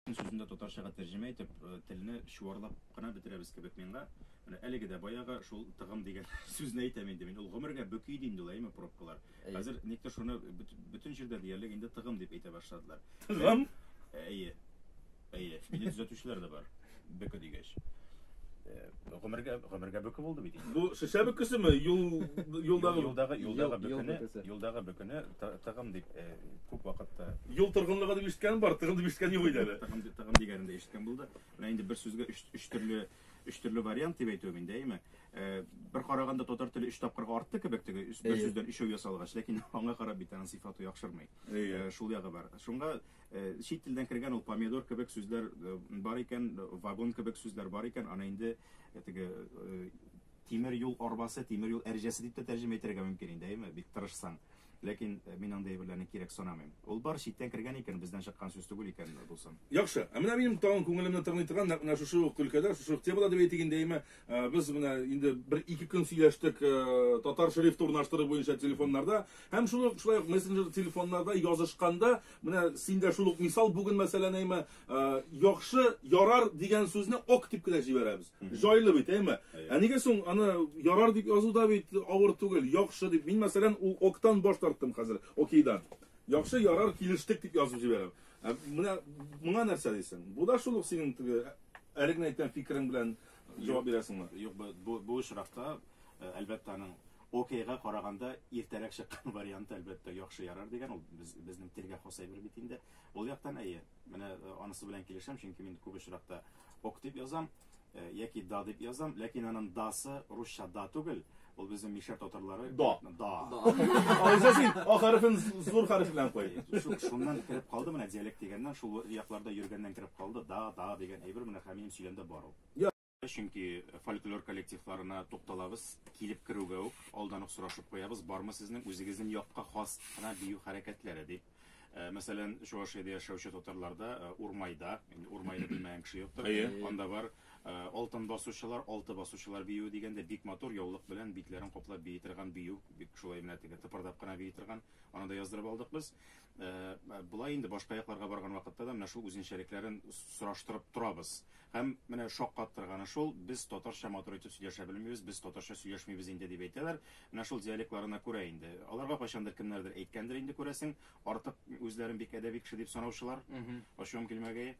Үз сүзендә татарчага тәрҗемә итеп, телне чуарлап кына бетерәбез кебек миңа. Менә әлеге дә баягы шул тыгым дигән сүзне әйтәм инде мин. Ул гомергә бөки иде инде ул, әйеме, пробкалар. Хәзер никтер шуны бөтен җирдә диярлек инде тыгым дип әйтә башладылар. Тыгым? Әйе. Әйе. Мине төзәтүчеләр дә бар. Бөке дигәч. Гомергә гомергә бөке булды бит. Бу шешә бөкесеме? Юл юлдагы юлдагы юлдагы бөкене, юлдагы бөкене тыгым дип э, күп вакытта юл торгынлыгы дип ишеткән бар, тыгым дип ишеткән юк иде әле. Тыгым тыгым дигәнендә ишеткән булды. Менә инде бер сүзгә өч өч төрле өч төрле вариант дип әйтүем инде, әйме? Э, бер караганда татар теле өч тапкырга артты кебек теге бер сүздән өчәү ясалгач, ләкин аңа карап бит аның сыйфаты яхшырмый. Э, шул ягы бар. Шуңа Чит телдән кергән ул помидор кебек сүзләр бар икән, вагон кебек сүзләр бар икән, аны инде теге тимер юл арбасы, тимер юл әрҗәсе дип тә тәрҗемә итәргә мөмкин инде, әйеме? Бик тырышсаң. Ләкин мин андый әйберләрне кирәк санамыйм. Ул бар, читтән кергән икән, бездән чыккан сүз түгел икән, дусым. Яхшы. Ә менә минем тагын күңелемне тырный торган, нәкъ менә шушы ук өлкәдә, шушы ук темада дип әйтик инде, әйеме, Э, без менә инде бер ике көн сөйләштек э, татар шрифты урнаштыру буенча телефоннарда һәм шул ук шулай ук мессенджер телефоннарда язышканда менә син дә шул ук мисал бүген мәсәлән әйме э, яхшы ярар дигән сүзне ок дип кенә җибәрәбез җайлы бит әйме ә нигә соң аны ярар дип язу да бит авыр түгел яхшы дип мин мәсәлән ул октан баш тарттым хәзер окейдан яхшы ярар килештек дип язып җибәрәм ә менә моңа нәрсә дисең бу да шул ук синең әлеге әйткән фикерең белән Җавап бирәсеңме? Юк, бу, бу очракта, әлбәттә, аның окейга караганда иртәрәк чыккан варианты, әлбәттә, яхшы ярар дигән, ул без, безнең телгә хас әйбер бит инде. Ул яктан, әйе, менә анысы белән килешәм, чөнки мин күп очракта ок дип язам, яки да дип язам, ләкин аның дасы русча да түгел, Ул безнең мишәр татарлары. Да. Да. Алайса син а хәрефен зур хәреф белән куй. Шуннан кереп калды менә диалект дигәннән, шул якларда йөргәннән кереп калды. Да, да дигән әйбер менә Хәмием сөйләнде бар ул. Чөнки фольклор коллективларына тукталабыз, килеп керүгә үк алдан ук сорашып куябыз, бармы сезнең үзегезнең якка хас кына бию хәрәкәтләре, дип. Мәсәлән, Чувашиядә яшәүче татарларда Урмайда, инде Урмайны белмәгән кеше юктыр. Анда бар Алтын басучылар, Алты басучылар биюе дигәндә бик матур яулык белән битләрен каплап бии торган бию, бик шулай менә теге тыпырдап кына бии торган. Аны да яздырып алдык без. Болай инде башка якларга барган вакытта да менә шул үзенчәлекләрен сораштырып торабыз. Һәм менә шаккаттырганы шул, без татарча матур итеп сөйләшә белмибез, без татарча сөйләшмибез инде, дип әйтәләр. Менә шул диалектларына күрә инде. Аларга кайчандыр кемнәрдер әйткәндер инде, күрәсең, артык үзләрен бик әдәби кеше дип санаучылар, ачуым килмәгәе.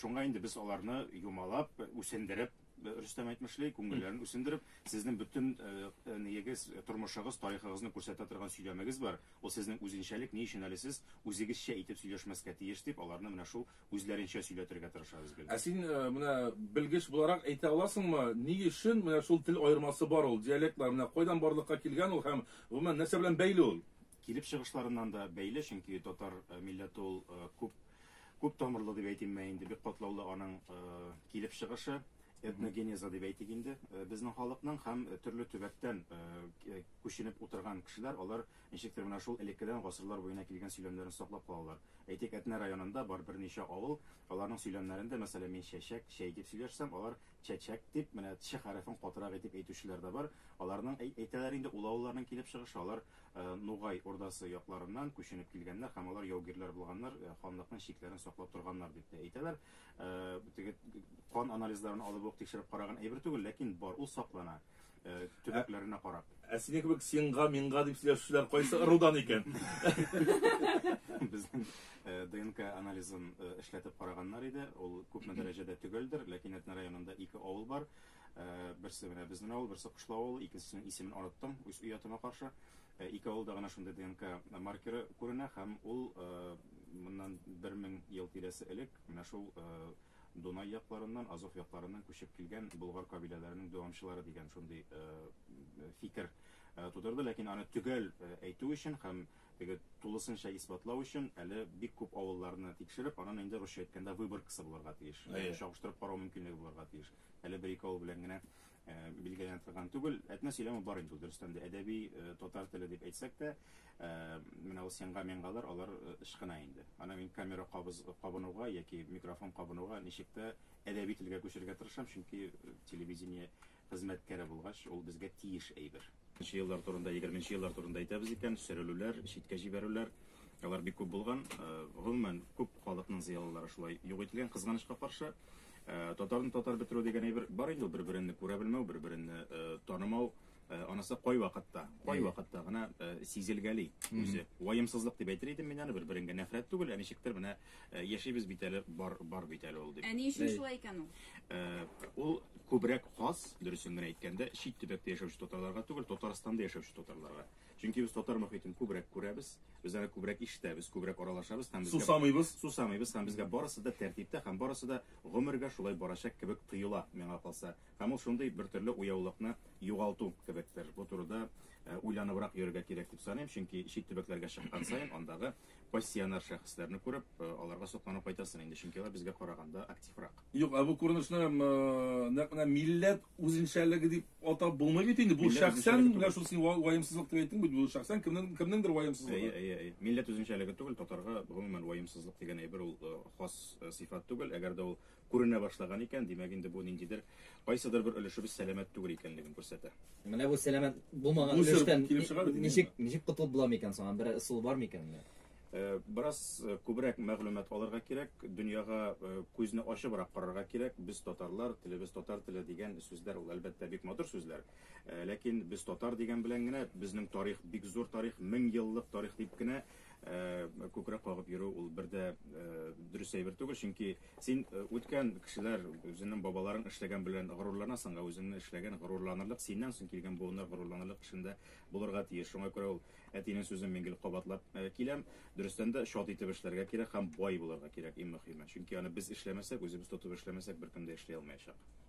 Шуңа инде без аларны юмалап, үсендереп, Рөстәм әйтмешли, күңелләрен үсендереп, сезнең бөтен ниегез, тормышыгыз, тарихыгызны күрсәтә торган сөйләмегез бар, ул сезнең үзенчәлек, ни өчен әле сез үзегезчә итеп сөйләшмәскә тиеш, дип, аларны менә шул үзләренчә сөйләтергә тырышабыз гел. Ә син менә белгеч буларак әйтә аласыңмы, ни өчен менә шул тел аермасы бар ул, диалектлар менә кайдан барлыкка килгән ул һәм гомумән нәрсә белән бәйле ул? Килеп чыгышларыннан да бәйле, чөнки татар милләте ул күп күп тамырлы дип әйтим мә инде, бик катлаулы аның килеп чыгышы, этногенеза дип әйтик инде, безнең халыкның һәм төрле төбәктән күченеп утырган кешеләр, алар Ничектер менә шул элеккедән гасырлар буена килгән сөйләмнәрен саклап калалар. Әйтик, Әтнә районында бар берничә авыл, аларның сөйләмнәрендә, мәсәлән, мин чәчәк, чәй дип сөйләшсәм, алар чәчәк дип, менә ч хәрефен катырак итеп әйтүчеләр дә бар. Аларның, әй, әйтәләр инде, ул авылларның килеп чыгышы, алар Нугай Урдасы якларыннан күченеп килгәннәр һәм алар яугирләр булганнар, ханлыкның чикләрен саклап торганнар дип тә әйтәләр. Теге кан анализларын алып ук тикшереп караган әйбер түгел, ләкин бар, ул саклана. Э, төбәкләренә карап. Ә синең кебек синга, миңга дип сөйләшүчеләр кайсы ырудан икән? Безнең э, ДНК анализын э, эшләтеп караганнар иде. Ул күпме дәрәҗәдә төгәлдер, ләкин Әтнә районында ике авыл бар. Берсе менә безнең авыл, берсе Кышлау авылы, икенчесенең исемен араттым, үз өятыма каршы. Ике авылда гына шундый ДНК маркеры күренә һәм ул моннан 1000 ел тирәсе элек менә шул Дунай якларыннан, Азов якларыннан күчеп килгән болгар кабиләләренең дәвамчылары дигән шундый фикер тудырды. Ләкин аны төгәл әйтү өчен һәм теге тулысынча исбатлау өчен әле бик күп авылларны тикшереп, аннан инде русча әйткәндә выборкасы булырга тиеш, чагыштырып карау мөмкинлеге булырга тиеш. Әле бер-ике авыл белән генә Билгеләнә торган түгел. Әтнә сөйләме бар инде ул, дөрестән дә. Әдәби татар теле дип әйтсәк тә, менә ул сенга-менгалар, алар ычкына инде. Аны мин камера кабыз кабынуга яки микрофон кабынуга ничек тә әдәби телгә күчерергә тырышам, чөнки телевидение хезмәткәре булгач, ул безгә тиеш әйбер. Нче еллар турында, егерменче еллар турында әйтәбез икән, сөрелүләр, читкә җибәрүләр, алар бик күп булган. Гомумән, күп халыкның зыялылары шулай юк ителгән, кызганычка каршы. Татарны татар бетерү дигән әйбер бар инде, бер-береңне күрә белмәү, бер-береңне танымау, анысы кай вакытта, кай вакытта гына сизелгәли үзе. Ваемсызлык дип әйтер идем мин аны, бер-береңгә нәфрәт түгел, ә ничектер менә яшибез бит әле, бар, бар бит әле ул дип. Ә ни өчен шулай икән ул? Ул күбрәк хас, дөресен генә әйткәндә, чит төбәктә яшәүче татарларга түгел, Татарстанда яшәүче татарларга. Чөнки без татар мөхитен күбрәк күрәбез, без аны күбрәк ишетәбез, күбрәк аралашабыз һәм безгә сусамыйбыз, сусамыйбыз һәм безгә барысы да тәртиптә һәм барысы да гомергә шулай барачак кебек тоела, миңа калса. Һәм ул шундый бертөрле уяулыкны югалту кебектер. Бу турыда э, уйланыбрак йөрергә кирәк дип саныйм, чөнки чит төбәкләргә чыккан саен андагы пассионар шәхесләрне күреп, э, аларга сокланып кайтасың инде, чөнки алар безгә караганда активрак. Юк, ә бу күренешне э, нәкъ менә милләт үзенчәлеге дип атап булмый бит инде. Бу шәхсән менә шул син ваемсызлык дип әйттең бит, бу шәхсән кемнең кемнеңдер ваемсызлыгы. Әйе, әйе, әйе. Милләт үзенчәлеге түгел, татарга гомумән ваемсызлык дигән әйбер ул э, хас сыйфат түгел, әгәр дә ул Күренә башлаган икән, димәк инде бу ниндидер, кайсыдыр бер өлешебез сәламәт түгел икәнлеген күрсәтә. Менә бу сәламәт булмаган өлештән ничек, ничек котылып була микән соң? Бер ысул бар микән? Э, бераз э, күбрәк мәгълүмат алырга кирәк, дөньяга э, күзне ачыбрак карарга кирәк. Без татарлар, телебез татар теле дигән сүзләр ул әлбәттә бик матур сүзләр. Ләкин без татар дигән белән генә безнең тарих бик зур тарих, 1000 еллык тарих дип кенә Ә күкрәк кагып йөрү ул бер дә дөрес әйбер түгел, чөнки син үткән кешеләр, үзеңнең бабаларың эшләгән белән горурланасың, ә үзеңнең эшләгән горурланырлык, синнән соң килгән буыннар горурланырлык эшендә булырга тиеш. Шуңа күрә ул әтинең сүзен мин гел кабатлап киләм, дөрестән дә чат итеп эшләргә кирәк һәм бай булырга кирәк, иң мөхиме. Чөнки аны без эшләмәсәк, үзебез тотып эшләмәсәк, беркем дә эшли алмаячак.